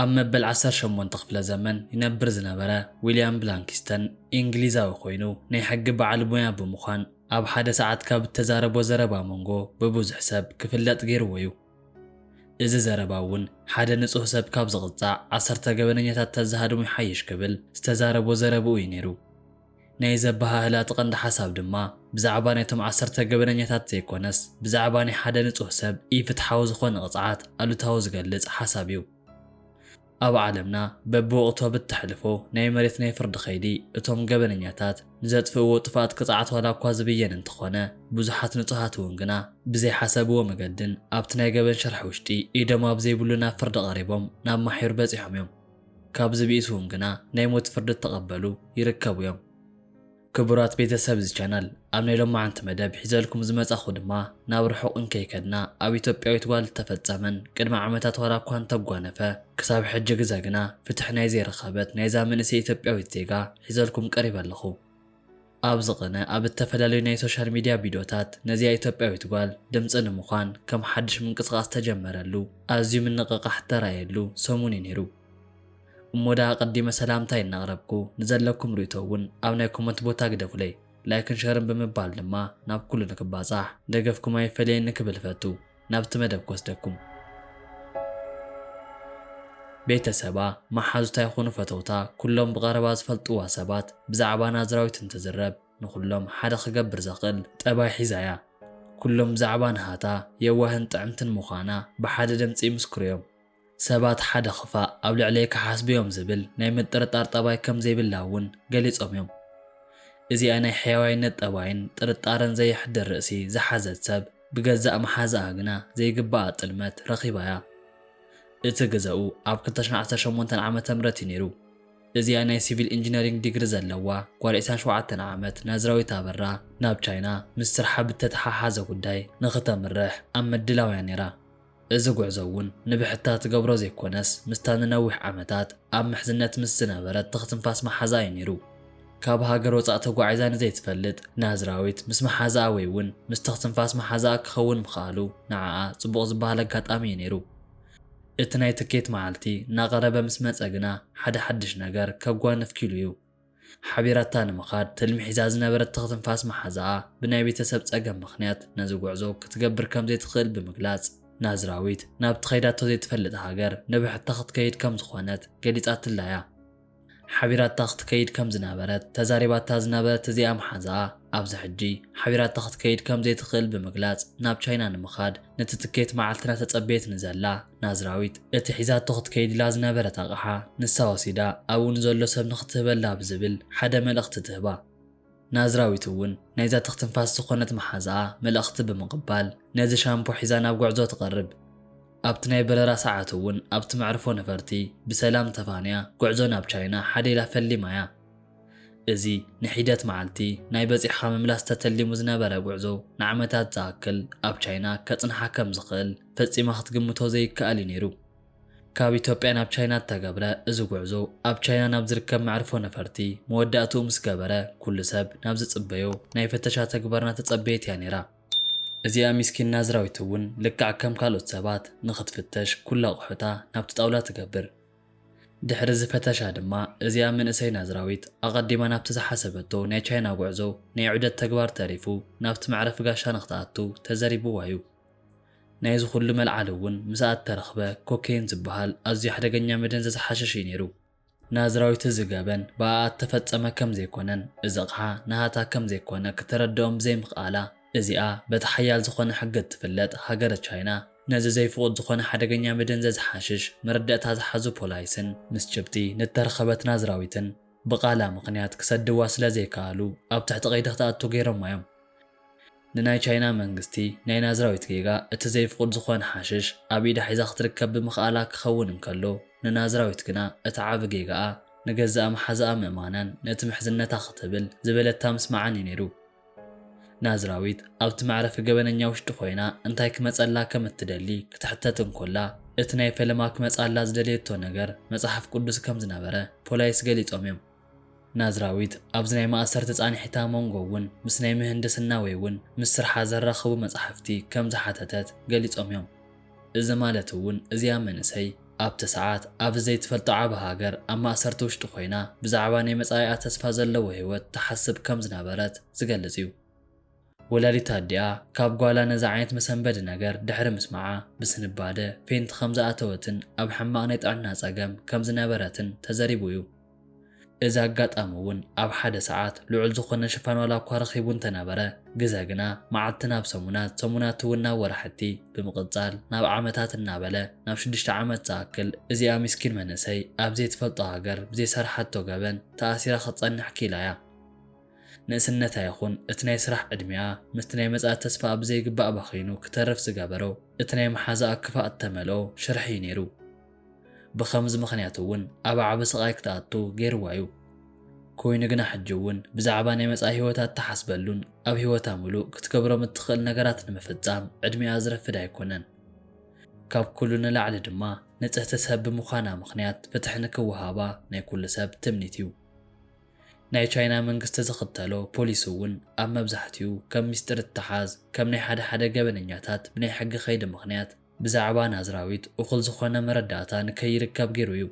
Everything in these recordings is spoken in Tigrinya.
ኣብ መበል ዓሰርተ ሸሞንተ ክፍለ ዘመን ይነብር ዝነበረ ዊልያም ብላንኪስተን ኢንግሊዛዊ ኮይኑ ናይ ሕጊ በዓል ሞያ ብምዃን ኣብ ሓደ ሰዓት ካብ እተዛረቦ ዘረባ መንጎ ብብዙሕ ሰብ ክፍለጥ ገይርዎ እዩ። እዚ ዘረባ እውን ሓደ ንጹህ ሰብ ካብ ዝቕጻዕ ዓሰርተ ገበነኛታት ተዝሃድሙ ይሓይሽ ክብል ዝተዛረቦ ዘረብኡ እዩ ነይሩ። ናይዚ ኣበሃህላ እቲ ቀንዲ ሓሳብ ድማ ብዛዕባ ናይቶም ዓሰርተ ገበነኛታት ዘይኮነስ ብዛዕባ ናይ ሓደ ንጹህ ሰብ ኢፍትሓዊ ዝኾነ ቅጽዓት ኣሉታዊ ዝገልጽ ሓሳብ እዩ። ኣብ ዓለምና በብወቕቱ ኣብ እተሕልፎ ናይ መሬት ናይ ፍርዲ ከይዲ እቶም ገበነኛታት ንዘጥፍእዎ ጥፍኣት ቅጽዓት ዋላ እኳ ዝብየን እንተኾነ ብዙሓት ንጹሃት እውን ግና ብዘይሓሰብዎ መገድን ኣብቲ ናይ ገበን ሽርሒ ውሽጢ ኢዶም ኣብ ዘይብሉ ናብ ፍርዲ ቀሪቦም ናብ ማሕዩር በጺሖም እዮም። ካብዚ ብኢሱውን ግና ናይ ሞት ፍርዲ እተቀበሉ ይርከቡ እዮም። ክቡራት ቤተሰብ እዚ ቻናል ኣብ ናይ ሎማዓንቲ መደብ ሒዘልኩም ዝመጻኹ ድማ ናብ ርሑቅ እንከይከድና ኣብ ኢትዮጵያዊት ጓል እተፈጸመን ቅድሚ ዓመታት ዋላ እኳ እንተጓነፈ ክሳብ ሕጂ ግዘ ግና ፍትሒ ናይ ዘይረኸበት ናይዛ መንእሰይ ኢትዮጵያዊት ዜጋ ሒዘልኩም ቀሪበ ኣለኹ። ኣብዚ ቕነ ኣብ እተፈላለዩ ናይ ሶሻል ሚድያ ቪድዮታት ነዚኣ ኢትዮጵያዊት ጓል ድምጺ ንምዃን ከም ሓድሽ ምንቅስቓስ እተጀመረሉ ኣዝዩ ምንቕቓሕ እተራእየሉ ሰሙን እዩ ነይሩ። እሞ ደኣ ኣቐዲመ ሰላምታይ እናቕረብኩ ንዘለኩም ርእይቶ እውን ኣብ ናይ ኮመንት ቦታ ግደፉለይ። ላይክን ሸርን ብምባል ድማ ናብ ኩሉ ንክባጻሕ ደገፍኩም ኣይፈለየኒ ክብል እፈቱ። ናብቲ መደብ ክወስደኩም። ቤተሰባ፣ መሓዙታ ይኹኑ ፈተውታ፣ ኩሎም ብቐረባ ዝፈልጥዋ ሰባት ብዛዕባ ናዝራዊት እንትዝረብ ንኹሎም ሓደ ክገብር ዘኽእል ጠባይ ሒዛ እያ። ኩሎም ብዛዕባ ናሃታ የዋህን ጥዕምትን ምዃና ብሓደ ድምጺ ይምስክሩ እዮም። ሰባት ሓደ ክፋእ ኣብ ልዕለይ ክሓስቡ'ዮም ዝብል ናይ ምጥርጣር ጠባይ ከም ዘይብላ'ውን ገሊጾም'ዮም። እዚኣ ናይ ሕያዋይነት ጠባይን ጥርጣረን ዘየሕድር ርእሲ ዝሓዘት ሰብ ብገዛእ መሓዝኣ ግና ዘይግባኣ ጥልመት ረኺባ'ያ። እቲ ግዘኡ ኣብ ክልተ ሽሕን ዓሰርተ ሸሞንተን ዓመተ ምህረት'ዩ ነይሩ። እዚኣ ናይ ሲቪል ኢንጂነሪንግ ዲግሪ ዘለዋ ጓል ዕስራን ሸውዓተን ዓመት ናዝራዊት ኣበራ ናብ ቻይና ምስ ስርሓ ብእተተሓሓዘ ጉዳይ ንኽተምርሕ ኣብ ምድላው'ያ ነይራ። እዚ ጉዕዞ እውን ንብሕታ ትገብሮ ዘይኮነስ ምስታ ንነዊሕ ዓመታት ኣብ ምሕዝነት ምስ ዝነበረት ትኽ-ትንፋስ መሓዛኣ እዩ ነይሩ። ካብ ሃገር ወጻእ ተጓዒዛ ንዘይትፈልጥ ናዝራዊት ምስ መሓዛኣ ወይ እውን ምስ ትኽ-ትንፋስ መሓዛኣ ክኸውን ምኽኣሉ ንዓኣ ጽቡቕ ዝበሃል ኣጋጣሚ እዩ ነይሩ። እቲ ናይ ትኬት መዓልቲ እናቐረበ ምስ መጸ ግና ሓደ ሓድሽ ነገር ከጓንፍ ኪሉ እዩ። ሓቢራታ ንምኻድ ትልሚ ሒዛ ዝነበረት ትኽትንፋስ መሓዝኣ ብናይ ቤተሰብ ጸገም ምኽንያት ነዚ ጉዕዞ ክትገብር ከም ዘይትኽእል ብምግላጽ፣ ናዝራዊት ናብቲ ከይዳቶ ዘይትፈልጥ ሃገር ንብሕታ ክትከይድ ከም ዝኾነት ገሊጻትላ'ያ። ሓቢራታ ክትከይድ ከም ዝነበረት ተዛሪባታ ዝነበረት እዚኣ መሓዝኣ፣ ኣብዚ ሕጂ ሓቢራታ ክትከይድ ከም ዘይትኽእል ብምግላጽ ናብ ቻይና ንምኻድ ነቲ ትኬት መዓልቲ እናተጸበየት ንዘላ ናዝራዊት እቲ ሒዛቶ ክትከይድላ ዝነበረት ኣቕሓ ንሳ ወሲዳ ኣብኡ ንዘሎ ሰብ ንኽትህበላ ብዝብል ሓደ መልእኽቲ ትህባ። ናዝራዊት እውን ናይዛ ትኽትንፋስ ዝኾነት መሓዛኣ መልእኽቲ ብምቕባል ነዚ ሻምፖ ሒዛ ናብ ጉዕዞ ትቐርብ። ኣብቲ ናይ በረራ ሰዓት እውን ኣብቲ መዕርፎ ነፈርቲ ብሰላም ተፋንያ ጉዕዞ ናብ ቻይና ሓደ ኢላ ፈሊማ እያ። እዚ ንሒደት መዓልቲ ናይ በጺሕኻ ምምላስ ተተሊሙ ዝነበረ ጉዕዞ ንዓመታት ዝኣክል ኣብ ቻይና ከጽንሓ ከም ዝኽእል፣ ፈጺማ ክትግምቶ ዘይከኣል እዩ ነይሩ። ካብ ኢትዮጵያ ናብ ቻይና እተገብረ እዚ ጉዕዞ፣ ኣብ ቻይና ናብ ዝርከብ መዕርፎ ነፈርቲ መወዳእትኡ ምስ ገበረ፣ ኩሉ ሰብ ናብ ዝጽበዮ ናይ ፍተሻ ተግባር እናተጸበየት እያ ነይራ። እዚኣ ሚስኪን ናዝራዊት እውን ልክዕ ከም ካልኦት ሰባት ንኽትፍተሽ ኩሉ ኣቑሑታ ናብቲ ጣውላ ትገብር። ድሕሪ እዚ ፈተሻ ድማ እዚኣ መንእሰይ ናዝራዊት ኣቐዲማ ናብቲ ዝሓሰበቶ ናይ ቻይና ጉዕዞ ናይ ዑደት ተግባር ተሪፉ ናብቲ መዕረፊ ጋሻ ንኽትኣቱ ተዘሪቡዋ እዩ። ናይዚ ኹሉ መልዓሊ እውን ምስኣ እተረኽበ ኮኬይን ዝበሃል ኣዝዩ ሓደገኛ መደንዘዚ ሓሸሽ እዩ ነይሩ። ናዝራዊት እዚ ገበን ብኣኣ እተፈጸመ ከም ዘይኰነን እዚ ኣቕሓ ናሃታ ከም ዘይኰነ ክተረድኦም ብዘይምኽኣላ፣ እዚኣ በቲ ሓያል ዝዀነ ሕጊ እትፍለጥ ሃገረ ቻይና ነዚ ዘይፍቑድ ዝዀነ ሓደገኛ መደንዘዚ ሓሽሽ መረዳእታ ዝሓዙ ፖላይስን ምስ ጭብጢ ንእተረኸበት ናዝራዊትን ብቓላ ምኽንያት ክሰድድዋ ስለ ዘይከኣሉ ኣብ ትሕቲ ቀይዲ ክትኣቱ ገይሮማ እዮም። ንናይ ቻይና መንግስቲ ናይ ናዝራዊት ጌጋ እቲ ዘይፍቑድ ዝኾነ ሓሽሽ ኣብ ኢዳ ሒዛ ክትርከብ ብምኽኣላ ክኸውን እንከሎ ንናዝራዊት ግና እቲ ዓቢ ጌጋኣ ንገዛኣ መሓዛኣ ምእማናን ነቲ ምሕዝነታ ክትብል ዝበለታ ምስማዓን እዩ ነይሩ። ናዝራዊት ኣብቲ መዕረፊ ገበነኛ ውሽጢ ኮይና እንታይ ክመጸላ ከም እትደሊ ክትሕተት እንኮላ እቲ ናይ ፈለማ ክመጽኣላ ዝደለየቶ ነገር መጽሓፍ ቅዱስ ከም ዝነበረ ፖላይስ ገሊጾም እዮም። ናዝራዊት ኣብዚ ናይ ማእሰርቲ ጻንሒታ መንጎ እውን ምስ ናይ ምህንድስና ወይ እውን ምስ ስርሓ ዘራኽቡ መጻሕፍቲ ከም ዝሓተተት ገሊጾም እዮም። እዚ ማለት እውን እዚኣ መንእሰይ ኣብቲ ሰዓት ኣብዚ ዘይትፈልጦ ዓቢ ሃገር ኣብ ማእሰርቲ ውሽጢ ኮይና ብዛዕባ ናይ መጻኢኣ ተስፋ ዘለዎ ህይወት ትሓስብ ከም ዝነበረት ዝገልጽ እዩ። ወላዲታ ኣዲኣ ካብ ጓላ ነዚ ዓይነት መሰንበዲ ነገር ድሕሪ ምስማዓ፣ ብስንባደ ፌንት ከም ዝኣተወትን ኣብ ሕማቕ ናይ ጥዕና ጸገም ከም ዝነበረትን ተዘሪቡ እዩ። እዚ ኣጋጣሚ እውን ኣብ ሓደ ሰዓት ልዑል ዝኾነ ሽፋን ዋላ እኳ ረኺቡ እንተነበረ፣ ግዘ ግና መዓልቲ ናብ ሰሙናት፣ ሰሙናት እውን ናብ ወራሕቲ፣ ብምቕጻል ናብ ዓመታት እናበለ ናብ ሽዱሽተ ዓመት ዝኣክል እዚኣ ሚስኪን መንእሰይ ኣብ ዘይትፈልጦ ሃገር ብዘይሰርሓቶ ገበን ተኣሲራ ክትጸንሕ ክኢላ እያ። ንእስነታ ይኹን እቲ ናይ ስራሕ ዕድሚኣ ምስቲ ናይ መጻኢ ተስፋኣ ብዘይግባእ ባኺኑ ክተርፍ ዝገበሮ እቲ ናይ መሓዛኣ ክፋእ እተመልኦ ሽርሒ እዩ ነይሩ። ብኸምዚ ምኽንያት እውን ኣብ ዓቢ ስቓይ ክትኣቱ ገይርዋ እዩ። ኮይኑ ግና ሕጂ እውን ብዛዕባ ናይ መጻኢ ህይወታ እትሓስበሉን ኣብ ህይወታ ምሉእ ክትገብሮም እትኽእል ነገራት ንምፍጻም ዕድሚኣ ዝረፍድ ኣይኮነን። ካብ ኩሉ ንላዕሊ ድማ ንጽህቲ ሰብ ብምዃና ምኽንያት ፍትሒ ንክወሃባ ናይ ኩሉ ሰብ ትምኒት እዩ። ናይ ቻይና መንግስቲ ዝኽተሎ ፖሊሲ እውን ኣብ መብዛሕቲኡ ከም ሚስጢር እተሓዝ፣ ከም ናይ ሓደ ሓደ ገበነኛታት ብናይ ሕጊ ከይዲ ምኽንያት ብዛዕባ ናዝራዊት እኹል ዝኾነ መረዳእታ ንከይርከብ ገይሩ እዩ።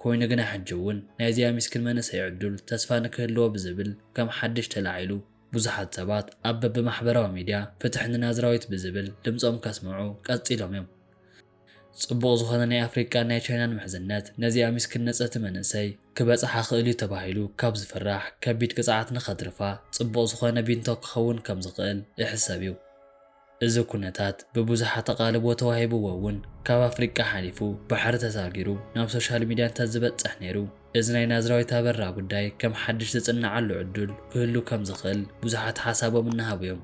ኮይኑ ግና ሕጂ እውን ናይዚኣ ሚስኪን መንእሰይ ዕዱል ተስፋ ንክህልዎ ብዝብል ከም ሓድሽ ተላዒሉ ብዙሓት ሰባት ኣብ በብማሕበራዊ ሚድያ ፍትሕ ንናዝራዊት ብዝብል ድምፆም ከስምዑ ቀፂሎም እዮም። ጽቡቕ ዝኾነ ናይ ኣፍሪቃን ናይ ቻይናን ምሕዝነት ነዚኣ ሚስክን ንጽህቲ መንእሰይ ክበጽሓ ይኽእል እዩ ተባሂሉ ካብ ዝፍራሕ ከቢድ ቅጽዓት ንኸትርፋ ጽቡቕ ዝኾነ ቢንቶ ክኸውን ከም ዝኽእል እሕሰብ እዩ። እዚ ኩነታት ብብዙሓት ኣቓልቦ ተዋሂብዎ እውን ካብ ኣፍሪቃ ሓሊፉ ባሕሪ ተሳጊሩ ናብ ሶሻል ሚድያ እንተዝበጽሕ ነይሩ እዚ ናይ ናዝራዊት ኣበራ ጉዳይ ከም ሓድሽ ዝጽነዓሉ ዕዱል ክህሉ ከም ዝኽእል ብዙሓት ሓሳቦም እናሃቡ እዮም።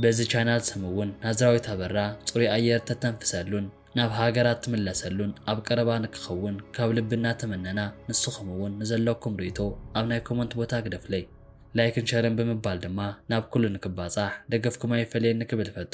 በዚ ቻናል ስም እውን ናዝራዊት ኣበራ ፅሩይ ኣየር ተተንፍሰሉን ናብ ሃገራ እትምለሰሉን ኣብ ቀረባ ንክኸውን ካብ ልቢ እናተመነና ንስኹም እውን ንዘለኩም ርኢቶ ኣብ ናይ ኮመንት ቦታ ግደፍለይ። ላይክን ሸርን ብምባል ድማ ናብ ኩሉ ንክባፃሕ ደገፍኩም ኣይፈለየኒ ክብል እፈቱ።